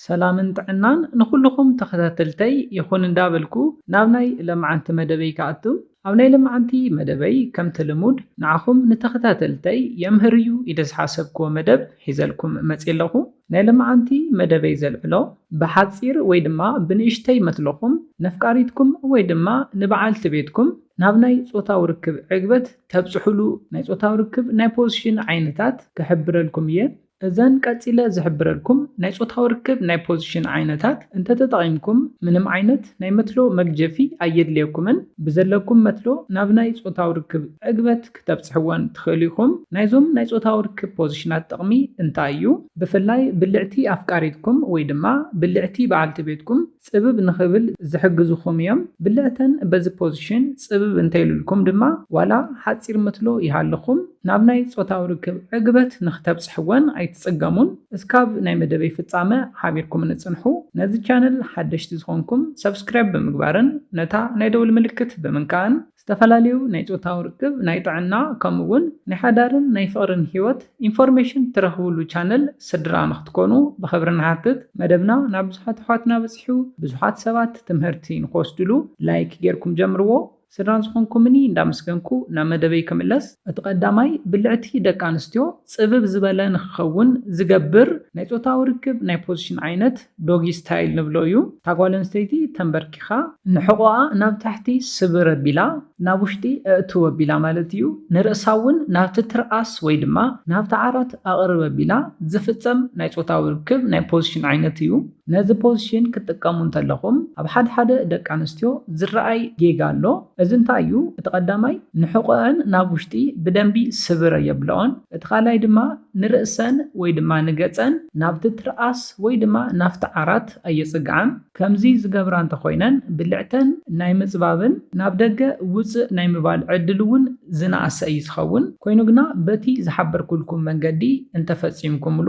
ሰላምን ጥዕናን ንኹሉኹም ተኸታተልተይ ይኹን እንዳበልኩ ናብ ናይ ለማዓንቲ መደበይ ክኣቱ። ኣብ ናይ ለማዓንቲ መደበይ ከምቲ ልሙድ ንዓኹም ንተኸታተልተይ የምህር እዩ ኢለ ዝሓሰብክዎ መደብ ሒዘልኩም መጽየ ኣለኹ። ናይ ለማዓንቲ መደበይ ዘልዕሎ ብሓጺር ወይ ድማ ብንእሽተይ መትሎኹም ነፍቃሪትኩም ወይ ድማ ንባዓልቲ ቤትኩም ናብ ናይ ጾታዊ ርክብ ዕግበት ተብጽሑሉ ናይ ጾታዊ ርክብ ናይ ፖዝሽን ዓይነታት ክሕብረልኩም እየ። እዘን ቀጺለ ዝሕብረልኩም ናይ ጾታዊ ርክብ ናይ ፖዚሽን ዓይነታት እንተተጠቒምኩም ምንም ዓይነት ናይ መትሎ መግጀፊ ኣየድልየኩምን። ብዘለኩም መትሎ ናብ ናይ ጾታዊ ርክብ ዕግበት ክተብጽሕወን ትኽእሉ ኢኹም። ናይዞም ናይ ጾታዊ ርክብ ፖዚሽናት ጥቕሚ እንታይ እዩ? ብፍላይ ብልዕቲ ኣፍቃሪትኩም ወይ ድማ ብልዕቲ በዓልቲ ቤትኩም፣ ጽብብ ንኽብል ዝሕግዙኹም እዮም። ብልዕተን በዚ ፖዚሽን ጽብብ እንተይሉልኩም ድማ ዋላ ሓጺር ምትሎ ይሃልኹም ናብ ናይ ጾታዊ ርክብ ዕግበት ንኽተብጽሕወን ኣይትጽገሙን። እስካብ ናይ መደበይ ፍጻመ ሓቢርኩምኒ ጽንሑ። ነዚ ቻነል ሓደሽቲ ዝኾንኩም ሰብስክራይብ ብምግባርን ነታ ናይ ደውል ምልክት ብምንካእን ዝተፈላለዩ ናይ ጾታዊ ርክብ፣ ናይ ጥዕና ከምኡ ውን ናይ ሓዳርን ናይ ፍቕርን ሂወት ኢንፎርሜሽን ትረኽብሉ ቻነል ስድራ ንኽትኮኑ ብኽብሪ ንሓትት። መደብና ናብ ብዙሓት ኣሕዋትና በጺሑ ብዙሓት ሰባት ትምህርቲ ንኽወስድሉ ላይክ ጌርኩም ጀምርዎ። ስድራ ዝኾንኩምኒ እንዳመስገንኩ ናብ መደበይ ክምለስ። እቲ ቀዳማይ ብልዕቲ ደቂ ኣንስትዮ ጽብብ ዝበለ ንኽኸውን ዝገብር ናይ ጾታዊ ርክብ ናይ ፖዚሽን ዓይነት፣ ዶጊ ስታይል ንብሎ እዩ። እታ ጓል ኣንስተይቲ ተምበርኪኻ ንሕቖኣ ናብ ታሕቲ ስብር ኣቢላ ናብ ውሽጢ ኣእትው ኣቢላ ማለት እዩ። ንርእሳ እውን ናብቲ ትርኣስ ወይ ድማ ናብቲ ዓራት ኣቕርብ ኣቢላ ዝፍጸም ናይ ጾታዊ ርክብ ናይ ፖዚሽን ዓይነት እዩ። ነዚ ፖዚሽን ክትጥቀሙ እንተለኹም ኣብ ሓድሓደ ደቂ ኣንስትዮ ዝረኣይ ጌጋ ኣሎ። እዚ እንታይ እዩ? እቲ ቀዳማይ ንሕቖኣን ናብ ውሽጢ ብደንቢ ስብር ኣየብለኦን። እቲ ካልኣይ ድማ ንርእሰን ወይ ድማ ንገጸን ናብቲ ትርኣስ ወይ ድማ ናብቲ ዓራት ኣየጽግዓን። ከምዚ ዝገብራ እንተኾይነን ብልዕተን ናይ ምጽባብን ናብ ደገ ውጽእ ናይ ምባል ዕድል እውን ዝነኣሰ እዩ ዝኸውን። ኮይኑ ግና በቲ ዝሓበርኩልኩም መንገዲ እንተፈጺምኩምሉ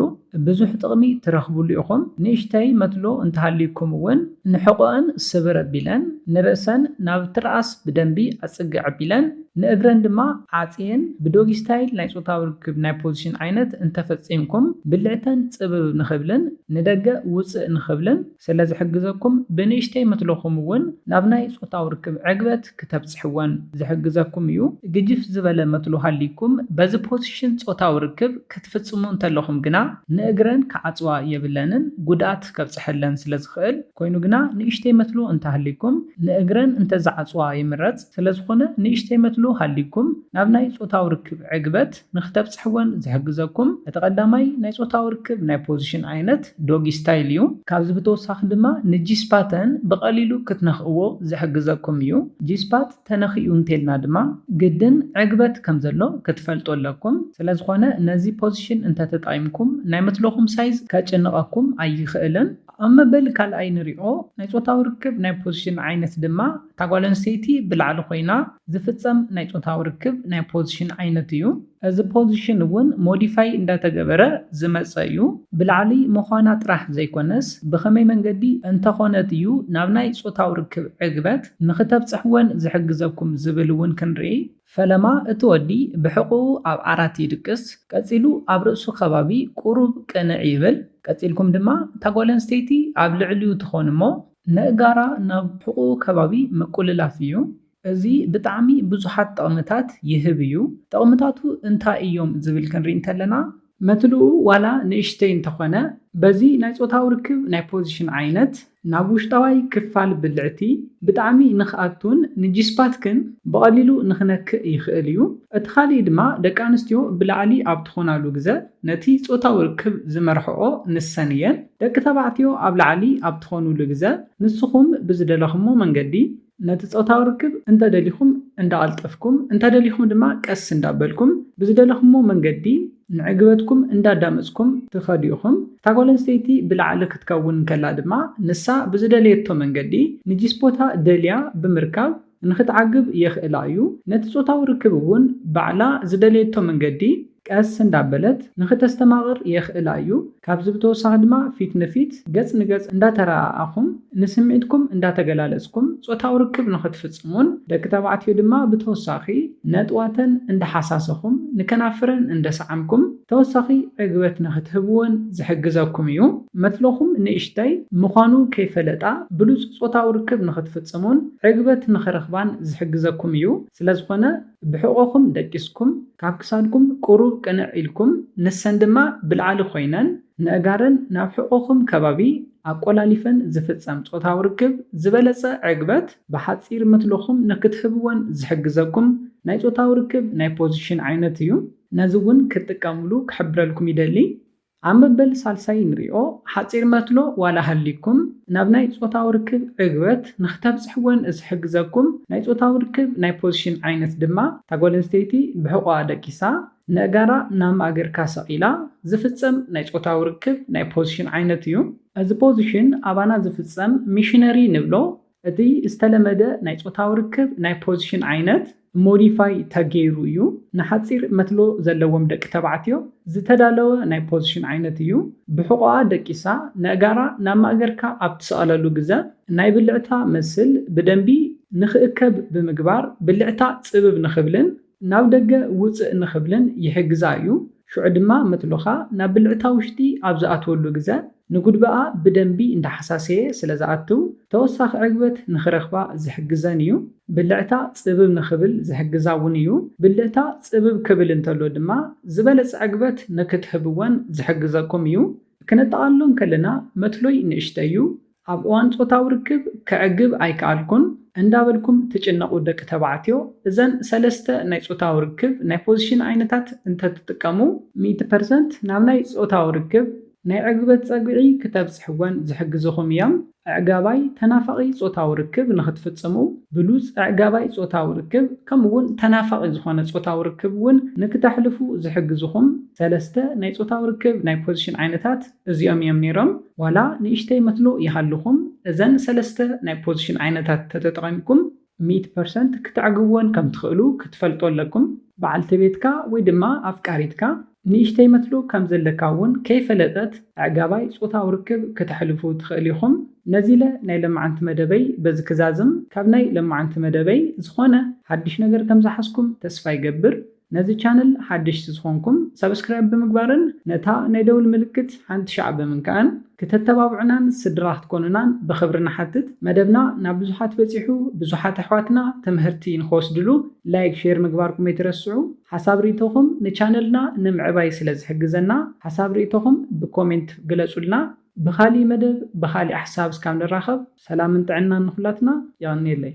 ብዙሕ ጥቕሚ ትረኽብሉ ኢኹም። ንእሽተይ መትሎ እንተሃልዩኩም እውን ንሕቖኣን ስብር ኣቢለን ንርእሰን ናብ ትርኣስ ብደንቢ ኣጽግዕ ኣቢለን ንእግረን ድማ ዓጽየን ብዶጊ ስታይል ናይ ጾታዊ ርክብ ናይ ፖዚሽን ዓይነት እንተፈጺምኩም ብልዕተን ጽብብ ንኽብልን ንደገ ውጽእ ንኽብልን ስለዝሕግዘኩም ብንእሽተይ መትሎኹም ውን ናብ ናይ ጾታዊ ርክብ ዕግበት ክተብጽሕወን ዝሕግዘኩም እዩ። ግጅፍ ዝበለ መትሎ ሃልይኩም በዚ ፖዚሽን ጾታዊ ርክብ ክትፍጽሙ እንተለኹም ግና ንእግረን ክዓጽዋ የብለንን ጉድኣት ከብጽሐለን ስለዝኽእል ኮይኑ ግና ንእሽተይ መትሎ እንተሃልይኩም ንእግረን እንተዝዓጽዋ ይምረጽ። ስለዝኾነ ንእሽተይ መትሎ ሃልይኩም ናብ ናይ ጾታዊ ርክብ ዕግበት ንክተብጽሕወን ዝሕግዘኩም እቲ ቀዳማይ ናይ ጾታዊ ርክብ ናይ ፖዚሽን ዓይነት ዶጊ ስታይል እዩ። ካብዚ ብተወሳኺ ድማ ንጂስፓተን ብቀሊሉ ክትነኽእዎ ዝሕግዘኩም እዩ። ጂስፓት ተነኺኡ እንተልና ድማ ግድን ዕግበት ከምዘሎ ክትፈልጡ ኣለኩም። ስለዝኾነ ነዚ ፖዚሽን እንተተጠቒምኩም ናይ መትሎኹም ሳይዝ ከጭንቐኩም ኣይኽእልን። ኣብ መበል ካልኣይ ንሪኦ ናይ ጾታዊ ርክብ ናይ ፖዚሽን ዓይነት ድማ እታ ጓል ኣንስተይቲ ብላዕሊ ኮይና ዝፍጸም ናይ ጾታዊ ርክብ ናይ ፖዚሽን ዓይነት እዩ። እዚ ፖዚሽን እውን ሞዲፋይ እንዳተገበረ ዝመጸ እዩ። ብላዕሊ ምዃና ጥራሕ ዘይኮነስ ብኸመይ መንገዲ እንተኾነት እዩ ናብ ናይ ጾታዊ ርክብ ዕግበት ንኽተብጽሕ ወን ዝሕግዘኩም ዝብል እውን ክንርኢ። ፈለማ እቲ ወዲ ብሕቝኡ ኣብ ዓራት ይድቅስ፣ ቀጺሉ ኣብ ርእሱ ከባቢ ቍሩብ ቅንዕ ይብል። ቀጺልኩም ድማ እታ ጓል ኣንስተይቲ ኣብ ልዕሊኡ ትኾን እሞ፣ ነእጋራ ናብ ሕቁኡ ከባቢ ምቁልላፍ እዩ። እዚ ብጣዕሚ ብዙሓት ጠቕምታት ይህብ እዩ። ጠቕምታቱ እንታይ እዮም ዝብል ክንሪኢ እንተለና። መትልኡ ዋላ ንእሽተይ እንተኾነ በዚ ናይ ጾታዊ ርክብ ናይ ፖዚሽን ዓይነት ናብ ውሽጣዋይ ክፋል ብልዕቲ ብጣዕሚ ንክኣቱን ንጂስፓትክን ብቐሊሉ ንክነክእ ይኽእል እዩ። እቲ ካሊእ ድማ ደቂ ኣንስትዮ ብላዕሊ ኣብ ትኾናሉ ግዘ ነቲ ጾታዊ ርክብ ዝመርሕኦ ንሰን እየን። ደቂ ተባዕትዮ ኣብ ላዕሊ ኣብ ትኾኑሉ ግዘ ንስኹም ብዝደለኹሞ መንገዲ ነቲ ፆታዊ ርክብ እንተደሊኹም እንዳቐልጠፍኩም እንተደሊኹም ድማ ቀስ እንዳበልኩም ብዝደለኹሞ መንገዲ ንዕግበትኩም እንዳዳመፅኩም ትኸዱ ኢኹም። እታ ጓል ኣንስተይቲ ብላዕሊ ክትከውን እንከላ ድማ ንሳ ብዝደለየቶ መንገዲ ንጂስፖታ ደልያ ብምርካብ፣ ንኽትዓግብ የኽእላ እዩ። ነቲ ጾታዊ ርክብ እውን ባዕላ ዝደለየቶ መንገዲ ቀስ እንዳበለት ንኽተስተማቕር የኽእላ እዩ። ካብዚ ብተወሳኺ ድማ ፊት ንፊት፣ ገጽ ንገጽ፣ እንዳተረኣኣኹም ንስምዒትኩም እንዳተገላለጽኩም ጾታዊ ርክብ ንኽትፍጽሙን ደቂ ተባዕትዮ ድማ ብተወሳኺ ነጥዋተን እንዳሓሳሰኹም ንከናፍረን እንደሰዓምኩም ተወሳኺ ዕግበት ንኽትህብወን ዝሕግዘኩም እዩ። መትሎኹም ንእሽተይ ምዃኑ ከይፈለጣ ብሉጽ ጾታዊ ርክብ ንኽትፍጽሙን ዕግበት ንኽረኽባን ዝሕግዘኩም እዩ። ስለዝኾነ ብሕቖኹም ደቂስኩም፣ ካብ ክሳድኩም ቁሩብ ቅንዕ ኢልኩም፣ ንሰን ድማ ብላዕሊ ኮይነን ነእጋረን ናብ ሕቖኹም ከባቢ ኣቆላሊፈን ዝፍጸም ጾታዊ ርክብ ዝበለጸ ዕግበት ብሓጺር መትሎኹም ንኽትህብወን ዝሕግዘኩም ናይ ጾታዊ ርክብ ናይ ፖዚሽን ዓይነት እዩ። ነዚ ውን ክትጥቀምሉ ክሕብረልኩም ይደሊ ኣብ መበል ሳልሳይ ንሪኦ ሓጺር መትሎ ዋላ ሃልይኩም ናብ ናይ ጾታዊ ርክብ ዕግበት ንክተብጽሕዎን ዝሕግዘኩም ናይ ጾታዊ ርክብ ናይ ፖዚሽን ዓይነት ድማ እታ ጓል ኣንስተይቲ ብሕቆኣ ደቂሳ ነእጋራ ናብ ማእገርካ ሰቂላ ዝፍጸም ናይ ጾታዊ ርክብ ናይ ፖዚሽን ዓይነት እዩ። እዚ ፖዚሽን ኣባና ዝፍጸም ሚሽነሪ ንብሎ እቲ ዝተለመደ ናይ ጾታዊ ርክብ ናይ ፖዚሽን ዓይነት ሞዲፋይ ተገይሩ እዩ። ንሓጺር መትሎ ዘለዎም ደቂ ተባዕትዮ ዝተዳለወ ናይ ፖዚሽን ዓይነት እዩ። ብሕቖኣ ደቂሳ ነእጋራ ናብ ማእገርካ ኣብ ትሰቕለሉ ግዘ ናይ ብልዕታ መስል ብደንቢ ንክእከብ ብምግባር ብልዕታ ጽብብ ንክብልን ናብ ደገ ውጽእ ንክብልን ይሕግዛ እዩ። ሽዑ ድማ መትሎኻ ናብ ብልዕታ ውሽጢ ኣብ ዝኣትወሉ ግዘ ንጉድበኣ ብደንቢ እንዳሓሳሰየ ስለ ዝኣትው ተወሳኺ ዕግበት ንኽረኽባ ዝሕግዘን እዩ። ብልዕታ ጽብብ ንኽብል ዝሕግዛ እውን እዩ። ብልዕታ ጽብብ ክብል እንተሎ ድማ ዝበለጸ ዕግበት ንክትህብወን ዝሕግዘኩም እዩ። ክነጠቓልሎ እንከለና መትሎይ ንእሽተይ እዩ፣ ኣብ እዋን ጾታዊ ርክብ ከዕግብ ኣይከኣልኩን እንዳበልኩም ትጭነቑ ደቂ ተባዕትዮ እዘን ሰለስተ ናይ ጾታዊ ርክብ ናይ ፖዚሽን ዓይነታት እንተትጥቀሙ ሚእቲ ፐርሰንት ናብ ናይ ጾታዊ ርክብ ናይ ዕግበት ጸግዒ ክተብጽሕወን ዝሕግዝኹም እዮም። ኣዕጋባይ ተናፋቒ ጾታዊ ርክብ ንኽትፍጽሙ፣ ብሉጽ ኣዕጋባይ ጾታዊ ርክብ ከምኡ'ውን ተናፋቒ ዝኾነ ጾታዊ ርክብ እውን ንክተሕልፉ ዝሕግዝኹም ሰለስተ ናይ ጾታዊ ርክብ ናይ ፖዚሽን ዓይነታት እዚኦም እዮም ነይሮም። ዋላ ንእሽተይ መትሎ ይሃልኹም፣ እዘን ሰለስተ ናይ ፖዚሽን ዓይነታት ተተጠቒምኩም፣ ሚእቲ ፐርሰንት ክተዕግብወን ከም ትኽእሉ ክትፈልጡ ኣለኩም። በዓልቲ ቤትካ ወይ ድማ ኣፍቃሪትካ ንእሽተይ መትሎ ከም ዘለካ እውን ከይፈለጠት ኣዕጋባይ ጾታዊ ርክብ ክተሕልፉ ትኽእል ኢኹም። ነዚለ ናይ ለማዓንቲ መደበይ በዚ ክዛዝም ካብ ናይ ለማዓንቲ መደበይ ዝኾነ ሓድሽ ነገር ከም ዝሓዝኩም ተስፋ ይገብር። ነዚ ቻነል ሓደሽቲ ዝኾንኩም ሳብስክራይብ ብምግባርን ነታ ናይ ደውል ምልክት ሓንቲ ሻዕ ብምንካእን ክተተባብዑናን ስድራ ክትኮኑናን ብኽብሪ ንሓትት መደብና ናብ ብዙሓት በጺሑ ብዙሓት ኣሕዋትና ትምህርቲ ንኽወስድሉ ላይክ ሼር ምግባርኩም ኣይትረስዑ ሓሳብ ሪኢቶኹም ንቻነልና ንምዕባይ ስለ ዝሕግዘና ሓሳብ ሪኢቶኹም ብኮሜንት ግለጹልና ብኻሊእ መደብ ብኻሊእ ሓሳብ እስካብ ንራኸብ ሰላምን ጥዕናን ንኹላትና የቐንየለይ።